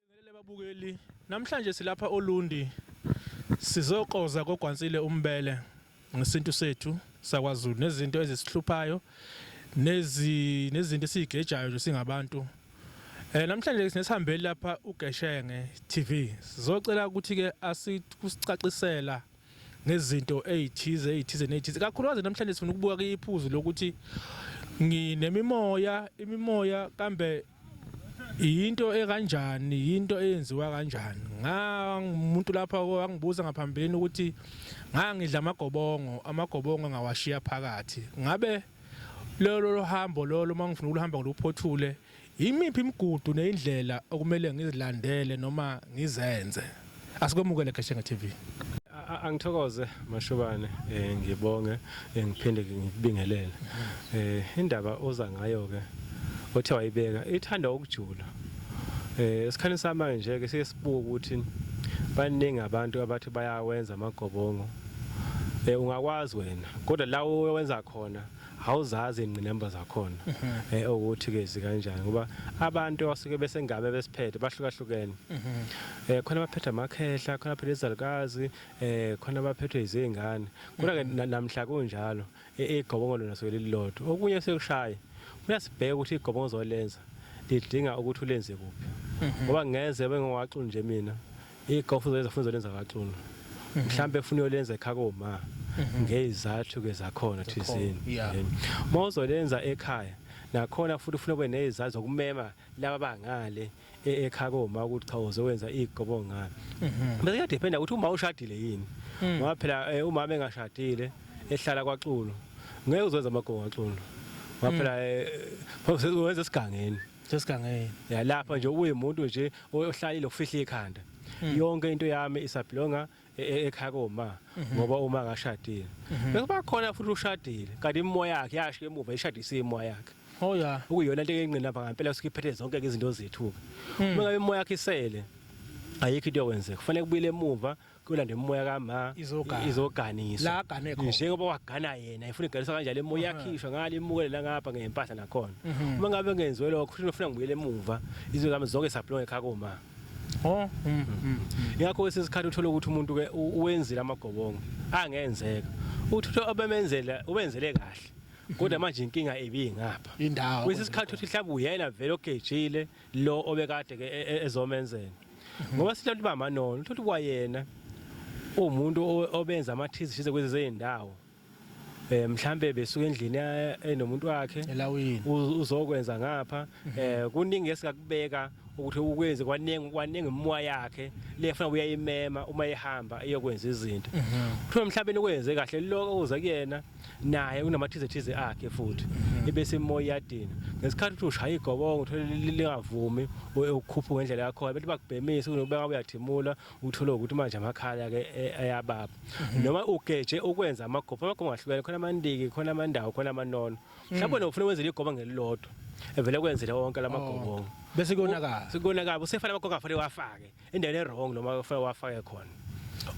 Sibingelele babukeli, namhlanje silapha oLundi sizokoza kogwansile umbele ngesintu sethu sakwaZulu nezinto ezisihluphayo nezi nezinto esizigejayo nje singabantu. Eh namhlanje sinesihambeli lapha uGeshenge TV. Sizocela ukuthi ke asikusicacisela ngezinto ezithize ezithize nezithize. Kakhulukazi namhlanje sifuna ukubuka kuyiphuzu lokuthi nginemimoya, imimoya kambe yinto ekanjani yinto eyenziwa kanjani ngangumuntu lapha wangibuza ngaphambilini ukuthi ngangidla amagobongo amagobongo ngawashiya phakathi ngabe lolo lohambo lolo uma ngifuna ukuhamba ngiluphothule yimiphi imigudu neyindlela okumele ngizilandele noma ngizenze Asikwemukele Gashenge TV. Angithokoze Mashobane eh ngibonge eh, ngiphinde ngikubingelele. Eh indaba oza ngayo ke othe wayibeka ithanda ukujula. Eh esikhani samanje nje ke sesibuka ukuthi baningi abantu abathi bayawenza amagobongo. Eh ungakwazi wena kodwa la owenza khona awuzazi ingqinamba zakhona mhm. eh ukuthi ke zikanjani ngoba abantu abasuke besengame besiphethe bahlukahlukene mhm. eh khona abaphethe amakhehla khona abaphethe izalukazi eh khona abaphethwe izingane kodwa ke mhm. namhla kunjalo igobongo lona soke lilodwa okunye sekushaya uyasibheka ukuthi igobongo zolenza lidinga ukuthi ulenze kuphi ngoba ngeze bengiwaxu nje mina Igogo kufuze lenze kufuze lenza kaXulu. Mhm. Mhlambe ufuna uyolenza ekhaya koma mhm. ngezathu ke zakhona thizini. Mawuzolenza ekhaya nakhona futhi ufuna ube nezizazi zokumema laba bangale e-, ekhaya koma ukuthi cha uzowenza igobo ngani. Mhm. Bese kuyadependa ukuthi uma ushadile yini. Mm. Ngoba phela eh, umama engashadile ehlala kwaXulu. Ngeke uzowenza amagogo kwaXulu. Ngoba mm. phela eh, wenza esigangeni. sesigangeni ya lapha nje uyimuntu nje ohlalile ukufihla ikhanda hmm. yonke into yami isablonga e, e, ekhaya koma mhm. ngoba uma akashadile mhm. bese bakhona futhi ushadile kanti imoya yakhe yasho emuva ishadise imoya yakhe oh ya ukuyona into engqina lapha ngempela sikiphethe zonke izinto zethu hmm. uma ngabe imoya yakhe isele ayikho into yokwenzeka kufanele kubuyele emuva kuyolanda imimoya kama Izogana. izoganiswa La agane khona. njengoba wagana yena ifuna iganiswa kanjalo imoya yakhishwa ngale imukele la ngapha ngempahla nakhona uma ngabe ngenziwe lokho futhi ngifuna ngibuyele emuva izwe zami zonke saphilwa ngekhaya koma Oh, mm, mm. ingakho kwesinye isikhathi uthole ukuthi umuntu ke u- uwenzile amagobongo angenzeka uthi uthe obemenzela ubenzele kahle kodwa manje inkinga ibingapha Indawo. kwesinye isikhathi uthi mhlawumbe uyena vele ogejile lo obekade ke e- e- ezomenzela ngoba sithola ukuthi bamanono uthola ukuthi kwayena umuntu o- obenza amathishize kwezi zezindawo eh mhlambe besuka endlini ya- enomuntu wakhe Elawini. uz- uzokwenza ngapha eh kuningi esikakubeka ukuthi ukwenze kwaningi kwaningi imoya yakhe lefuna uyayimema uma ihamba iyokwenza izinto kuthiwa mhlawumbe nikwenze kahle lokho uze kuyena naye unamathizethize akhe futhi mhm. ibe semoya iyadina ngesikhathi uthi ushaya igobongo uthole lingavumi ukukhupha ngendlela yakho abantu bakubhemisa kunobeka uyathimula uthole ukuthi manje amakhala ke e, ayababa mhm. noma ugeje ukwenza amagopho amagopho ngahlukene khona amandiki khona amandawo khona amanono mhm. mhlawumbe nofuna wenzele igoba ngelilodwa evele kwenzele wonke lamagobongo oh. bese konakala sekonakala usefana amakhoka afanele wafake endaweni ewrong noma kufanele wafake khona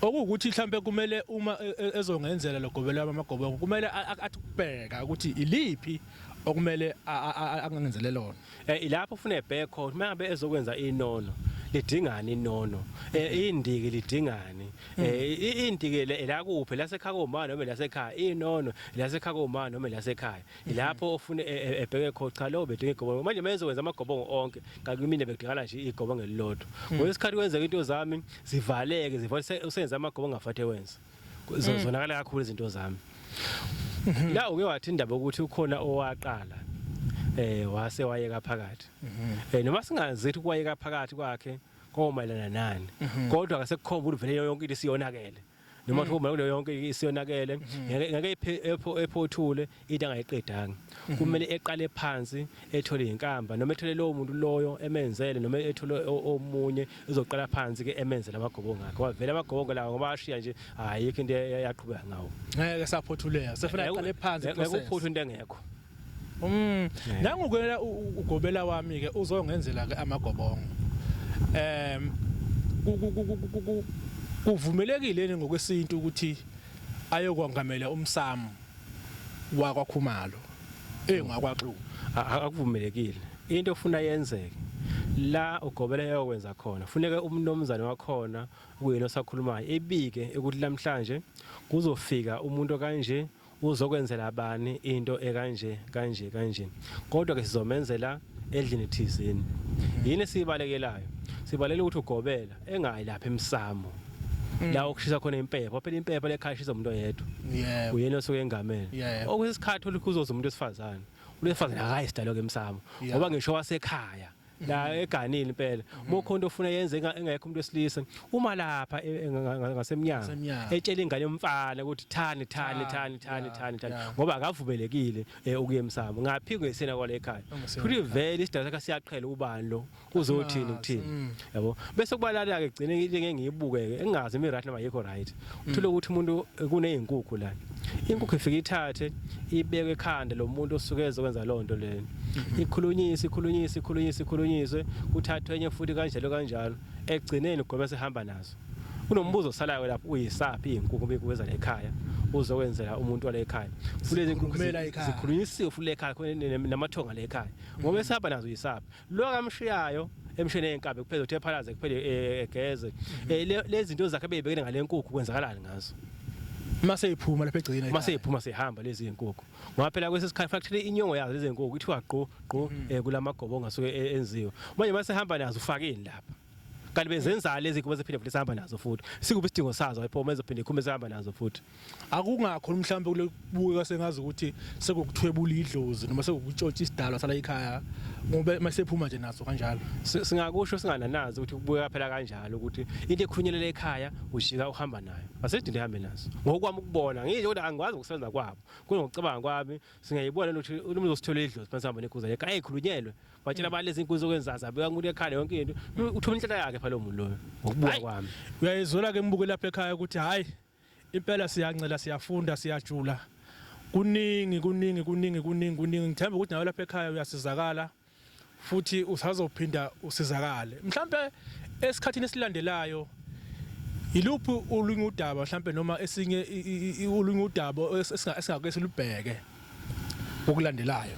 okuwukuthi mhlampe kumele uma e, e, ezongenzela logobelo wami amagobongo kumele athi kubheka ukuthi iliphi okumele angangenzele lona eh ilapho ufuna ebheke khona uma ngabe ezokwenza inono lidingani inono eh, indiki lidingani eh, indiki la kuphi lasekhaya komama noma lasekhaya inono lasekhaya komama noma lasekhaya lapho ofuna e- e- ebheke khona cha lowo bedinga igobongo manje uma ezokwenza amagobongo onke kanti kumina bekudingana nje igobongo elilodwa ngokwesikhathi kwenzeka into zami zivaleke ziva use- usenze amagobongo angafathi ewenza Ku- zo- zonakala kakhulu izinto zami la uke wathi indaba yokuthi ukhona owaqala eh wase wayeka phakathi eh noma singazi ukuthi kwayeka phakathi kwakhe komayelana nani kodwa akasekukhomba ukuthi vele yonke into isiyonakele noma kuthiwa uma kuleyo yonke isiyonakele ngeke ngeke ephe- epho- ephothule into angayiqedanga kumele eqale phansi ethole inkamba noma ethole lowo muntu loyo emenzele noma ethole o- omunye uzoqala phansi ke emenzele amagobongo akhe ngoba vele amagobongo lawo ngoba ashiya nje ayikho into e- eyaqhubeka ngawo ngeke saphothuleka sefuna aqale phansi ngeke uphuthe into engekho Mm. Nangu kuyena ugobela wami ke uzongenzela ke amagobongo. Em kuvumelekile ni ngokwesintu ukuthi ayokwangamela umsamo wakwakhumalo engakwaxulu. Akuvumelekile. Into ofuna yenzeke la ugobela yokwenza khona funeka umnomzane wakhona kuyena osakhulumayo ebike ukuthi namhlanje kuzofika umuntu kanje Uzokwenzela bani into ekanje kanje kanje? Kodwa ke sizomenzela edlini thizeni. Yini esiyibalekelayo? Sibalela ukuthi ugobela engayi lapha emsamo. La okushisa khona impepho, phela impepho lekhaya ishisa umuntu oyedwa. Yebo. Uyena osuke engamele. Yebo. Okuyisikhathi olukhuzoza umuntu wesifazane. Umuntu wesifazane akayi sidalo ke emsamo. Yebo. Ngoba ngisho wasekhaya la eganile impela mokhonto ufuna yenze enga- engekho umuntu wesilisa uma lapha e- enga- nga- nga- ngasemnyango Ngasemnyango. etshela ingane yomfana ukuthi thani thani thani thani yeah, thani thani yeah. ngoba akavumelekile eh, ukuya emsamo ngaphi ngesena kwale ekhaya Ongesena futhi vele isidala sakhe siyaqhela ubani lo uzothini Asimazi, ukuthini mm. yabo bese kubalala ke gcine into engeke ngiyibuke ke engazi imi right noma yikho right uthole ukuthi umuntu kunezinkukhu la inkukhu ifike ithathe ibeke ekhanda lo muntu osuke ezokwenza loo nto leyo mhm. ikhulunyise ikhulunyise ikhulunyise ikhulunyiswe kuthathwe enye futhi kanjalo kanjalo ekugcineni ugwebe sehamba nazo kunombuzo osalayo lapho uyisaphi izinkukhu bekuweza la ekhaya uzokwenzela umuntu wale ekhaya futhi lezi nkukhu zikhulunyisiwe futhi le ekhaya namathonga le ekhaya ngoba esihamba nazo uyisaphi lo akamshiyayo emshini eyenkabi kuphela uthi ephalaze kuphele eh, egeze mhm. eh, lezi zinto zakhe beyibekene ngale nkukhu kwenzakalani ngazo mase iphuma lapha egcina mase iphuma sehamba lezi zinkukhu ngoba phela kwesesikhathi factory inyongo yazo lezi zinkukhu ithiwa gqo gqo mhm. eh, kulamagobo ongasuke enziwe manje mase hamba nazo ufakeni lapha kanti bezenzala lezi kuba ziphinde futhi sihamba nazo futhi sikuphi isidingo sazo ayiphoma ezophinde ikhume sihamba nazo futhi akungakho mhlawumbe kulokubukeka sengazi ukuthi sekukuthwebula idlozi noma sekukutshotsha isidalwa sala ikhaya ngoba masephuma nje naso kanjalo singakusho singananazi ukuthi kubukeka phela kanjalo ukuthi into ekhunyelela ekhaya ujika uhamba nayo asedinde hambe naso ngokwami ukubona ngisho ukuthi angikwazi ukusebenza kwabo kunocabanga kwami singayibona ukuthi umuntu uzosithola idlozi phansi hamba nekhuza yakhe ayikhulunyelwe batshela mm. balezi inkuzo okwenzaza abeka umuntu ekhala yonke into uthuma inhlala yakhe phela lo muntu loyo ngokubuka kwami uyayizwela ke imbuke lapha ekhaya ukuthi hayi Impela siyancela siyafunda siyajula kuningi kuningi kuningi kuningi kuningi ngithemba ukuthi nawe lapha ekhaya uyasizakala futhi usazophinda usizakale mhlambe esikhathini esilandelayo yiluphi olunye udaba mhlambe noma esinye olunye udaba esingake silubheke okulandelayo.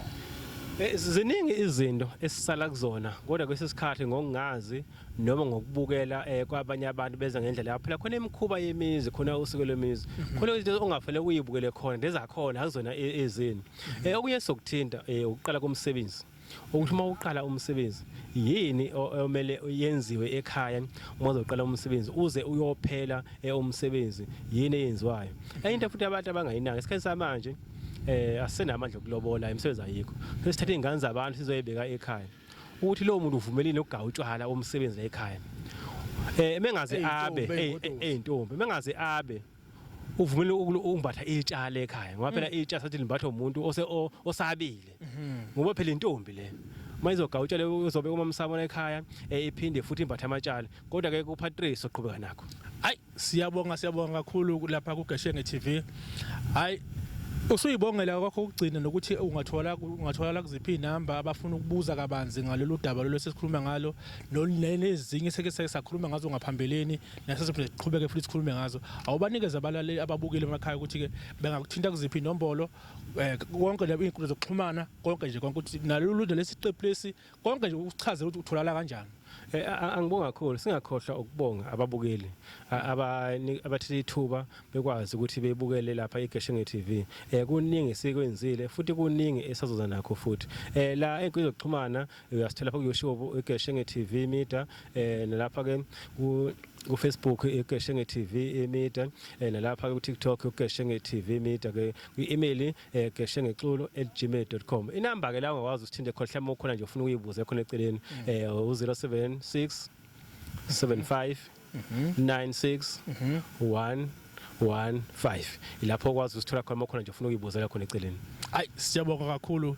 Eh, ziningi izinto esisala kuzona kodwa kwesinye isikhathi ngokungazi noma ngokubukela eh, kwabanye abantu beza ngendlela yabo phela khona imikhuba yemizi khona usuku lwemizi mhm. khona izinto ongafanele uyibukele khona lezakhona akuzona e-, ezini mhm. eh, okunye sokuthinta ukuqala komsebenzi ukuthi uma uqala umsebenzi yini omele yenziwe ekhaya uma uzoqala umsebenzi uze uyophela eh, umsebenzi yini eyenziwayo enye into futhi abantu abangayinaki isikhathi samanje eh asenamandla okulobola imisebenzi ayikho sesithatha izingane zabantu sizoyibeka ekhaya ukuthi lowo muntu uvumelile ukugawa utshwala umsebenzi la ekhaya eh mengaze abe eyintombi mengaze abe uvumile ukumbatha itsha le ekhaya ngoba phela mm. itsha sathi limbathwa umuntu ose osabile mm-hmm. ngoba phela intombi le uma izogawutsha le uzobe uma msabona ekhaya eh, iphinde futhi imbathe amatshala kodwa ke kuPatrice oqhubeka nakho hayi siyabonga siyabonga kakhulu lapha kuGeshenge TV hayi usuyibongela kwakho ukugcina nokuthi ungathola ungathola kuziphi inamba abafuna ukubuza kabanzi ngalolu daba lolu sesikhuluma ngalo nezinye seke sakhuluma ngazo ngaphambilini nasesiphinde siqhubeke futhi sikhulume ngazo awubanikeze abalaleli ababukile emakhaya ukuthi-ke bengakuthinta kuziphi inombolo um konke nje iy'nkundla zokuxhumana konke nje konke ukuthi nalolu nje lesi qephu lesi konke nje uchaze ukuthi utholakala kanjani Eh, angibonga kakhulu singakhohlwa ukubonga ababukeli abathethe ithuba bekwazi ukuthi bebukele lapha eGeshenge TV eh kuningi sikwenzile futhi kuningi esazoza nakho futhi eh la enkundla zokuxhumana uyasithola pha kuyoutube igeshenge tv media um nalapha ke kufacebook igeshenge tv media um nalapha ke kutiktok igeshenge tv media ke kwi-email um eh, geshenge culo at gmail dot com inamba ke la ungakwazi usithinte khona mhlawumbe ukhona nje ufuna ukuyibuza khona eceleni um u-zero seven six seven five nine six one 15 ilapho okwazi usithola khona uma khona nje ufuna ukuyibuzela khona eceleni ayi siyabonga kakhulu